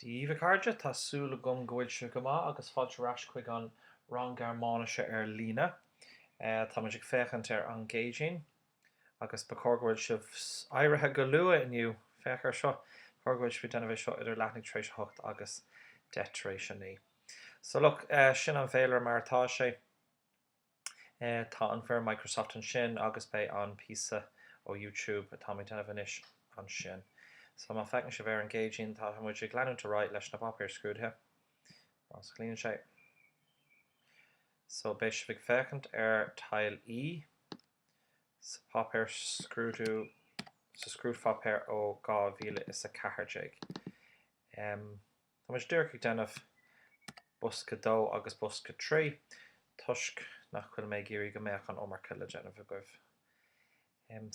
Dhíbh, a chairde, tá súil agam go bhfuil sibh go maith agus fáilte ar ais chuig an rang Gearmáinise ar líne. Táimid ag féachaint ar an gCéadaoin agus ba chóir go bhfuil sibh éirithe go luath inniu. Féach ar seo, ba chóir go bhfuil sibh ag déanamh é seo idir leathuair tar éis a hocht agus deich tar éis a naoi. So look, sin an fhéilire mar atá sé. Tá an fhoirm Microsoft ansin agus beidh an píosa ó YouTube atá mé déanamh anois ansin. So má feiceann sibh ar an gCéadaoin tá muid ag leanúint ar aghaidh leis na páipéir scrúdaithe, más cuimhin libh. So beidh sibh ag féachaint ar Teil E sa páipéar scrúdú, sa scrúdpháipéar ó 2014. Tá muid díreach ag déanamh bosca dó agus bosca trí, toisc nach bhfuil mé ag iarraidh go mbeadh an iomarca le déanamh agaibh.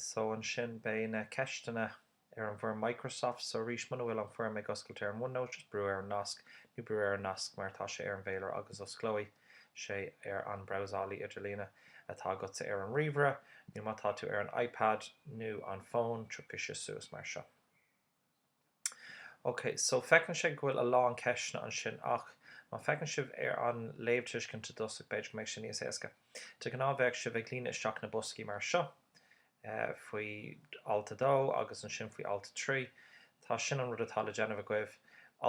So, ansin beidh na ceisteanna ar an bhfoirm Microsoft. So, arís, muna bhfuil an fhoirm ag oscailt ar an OneNote, just brú ar an nasc, nó brú ar an nasc mar atá sé ar an bhféilire agus osclóidh sé ar an brabhsálaí idirlíne atá agatsa ar an ríomhaire, nó má tá tú ar an iPad nó an fón, tiocfaidh sé suas mar seo. Ok, so feiceann sibh go bhfuil a lán ceisteanna ansin ach má feiceann sibh ar an léamhthuiscint i dtosach b'fhéidir go mbeidh sé níos éasca. De ghnáth bheadh sibh ag líonadh isteach na boscaí mar seo, faoi alt 2 agus ansin faoi alt 3. So sin an rud atá le déanamh agaibh,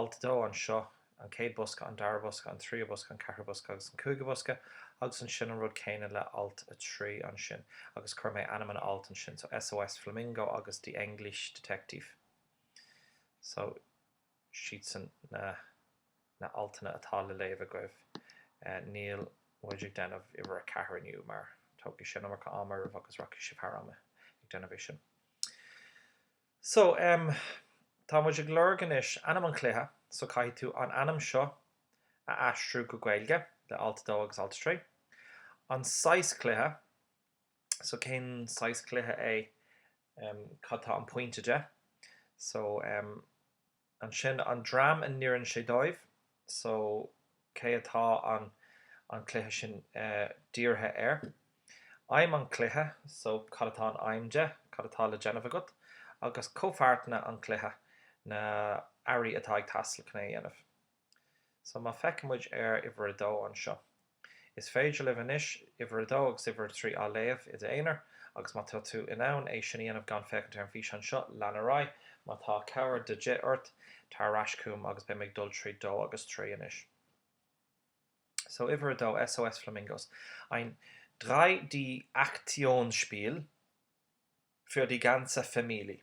alt 2 anseo, an chéad bhosca, an dara bosca, an tríú bosca, an ceathrú bosca agus an cúigiú bosca agus ansin an rud céanna le alt 3 ansin agus chuir mé ainm an ailt ansin so S.O.S Flamingo agus The English Detective so siadsan na na altanna atá le léamh agaibh níl muid ag déanamh uimhir a ceathair inniu mar tógfaidh sé an iomarca ama oraibh agus rachaidh sibh thar am ag déanamh é sin. So, em, tá muid ag lorg anois ainm an chluiche, so caithfidh tú an ainm seo a aistriú go Gaeilge le alt a dó agus alt a trí. An saghas cluiche, so cén saghas cluiche é, em, cad tá an pointe de, so, em, ansin an dream a n-oireann sé dóibh so cé atá an cluiche sin dírithe air? aidhm an chluiche so cad atá an aidhm de? cad atá le déanamh agat? agus comhpháirteanna an chluiche na hearraí atá ag teastáil chun é a dhéanamh. So má feiceann muid ar uimhir 2 anseo, is féidir libh anois uimhir 2 agus uimhir 3 á léamh i d'aonar, agus má tá tú in ann é sin a dhéanamh gan féachaint ar an bhfíseán seo, lean ar aghaidh. Má tá cabhair de dhith ort, tar ar ais chugam agus beidh mé ag dul tríd 2 agus 3 anois. So uimhir 2, SOS Flamingos, ein 3D-Aktionsspiel für die ganze Familie.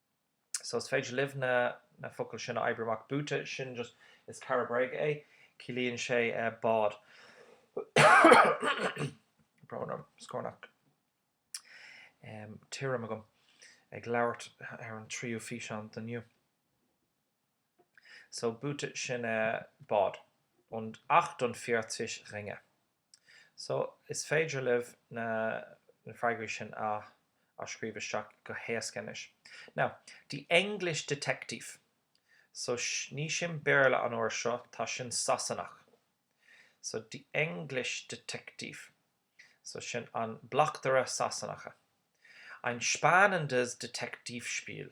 so is féidir libh na na focail sin a oibriú amach Boote sin just is cara bréige é ciallaíonn sé bád brón orm scornach tirim agam ag labhairt ar an tríú físeán de inniu so Boote sin a bád und achtundvierzig Ringe So, is féidir libh na na freagraí sin a a scríobh isteach go héasca anois. Now, the English detective. So, ní sin Béarla an uair seo, tá sin Sasanach. So, the English detective. So, sin an bleachtaire Sasanach. Ein spannendes Detektivspiel.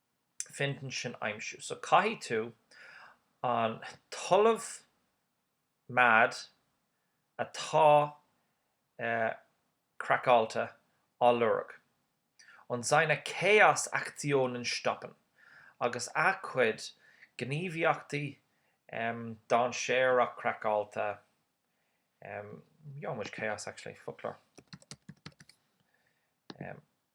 Finden sin aimsiú. So caithfidh tú an tOllamh mad atá eh craiceáilte a lorg. Und seine Chaos-Aktionen stoppen agus a chuid gníomhaíochtaí em dainséarach craiceáilte em ja muid chaos actually foclóir em.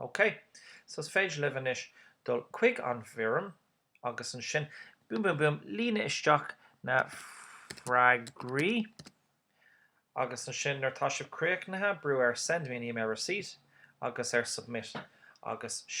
OK, so is féidir libh anois dul chuig an bhfoirm agus ansin, boom boom boom, líonadh isteach na freagraí agus ansin nuair atá sibh críochnaithe, brú ar Send me an email receipt agus ar Submit agus sin.